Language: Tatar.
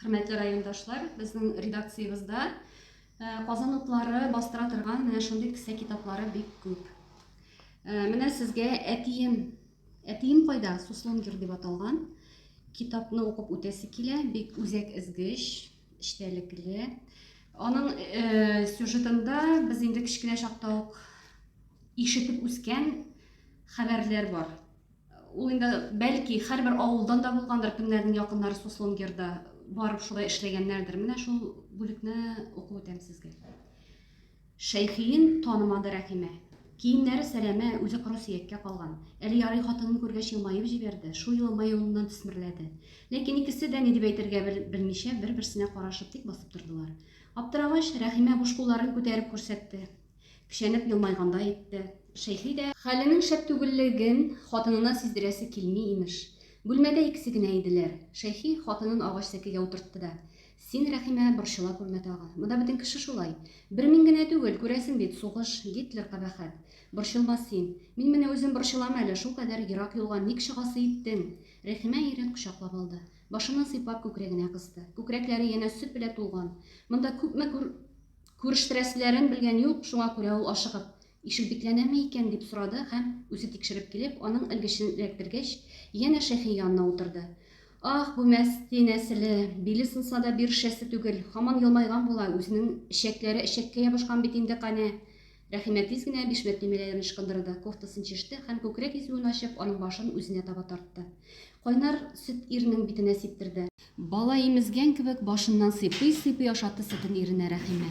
Хөрмәтле райондашлар, безнең редакциябездә Казан утлары бастыра торган менә шундый кесә китаплары бик күп. Менә сезгә әтием, әтием кайда? Суслонгер дип аталган китапны укып үтәсе килә, бик үзәк эзгеч, эчтәлекле. Аның э, сюжетында без инде кечкенә чакта ук ишетеп үскән хәбәрләр бар. Ул инде, бәлки, һәрбер авылдан да булгандыр, кемнәрнең якыннары Суслонгерда барып шулай эшләгәннәрдер. Менә шул бүлекне укып үтәм сезгә. Шәйхиен танымады Рәхимә. Киемнәре сәләмә, үзе коры сөяккә калган. Әле ярый хатынын күргәч елмаеп җибәрде, шул елма юлыннан төсмерләде. Ләкин икесе дә ни дип әйтергә белмичә бер-берсенә карашып тик басып тордылар. Аптырагач, Рәхимә буш кулларын күтәреп күрсәтте. Кешәнеп елмайгандай итте. Шәйхи дә. Хәленең шәп түгеллеген хатынына сиздерәсе килми, имеш. Бүлмәдә икесе генә иделәр. Шәйхи хатынын агач сәкегә утыртты да. Син, Рәхимә, борчыла күрмә тагы. Монда бөтен кеше шулай. Бер мин генә түгел, күрәсең бит, сугыш, Гитлер кабәхәт. Борчылма син. Мин менә үзем борчылам әле, шулкадәр ерак юлга ник чыгасы иттең? Рәхимә ирен кочаклап алды. Башыннан сыйпап күкрәгенә кысты. Күкрәкләре янә сөт белә тулган. Монда күпме күр. Күрештерәселәрен белгән юк, шуңа күрә ул ашыгып, Ишек бикләнәме икән? дип сорады һәм, үзе тикшереп килеп, аның элгечен эләктергәч, янә Шәфи янына утырды. Аһ, бу мәсти нәселе, биле сынса да бирешәсе түгел, һаман елмайган була, үзенең эчәкләре эчәккә ябышкан бит инде, канә! Рәхимә тиз генә бишмәт төймәләрен ычкындырды, кофтасын чиште һәм күкрәк изүен ачып, аның башын үзенә таба тартты. Кайнар сөт ирнең битенә сиптерде. Бала имезгән кебек башыннан сыйпый-сыйпый ашатты сөтен иренә Рәхимә.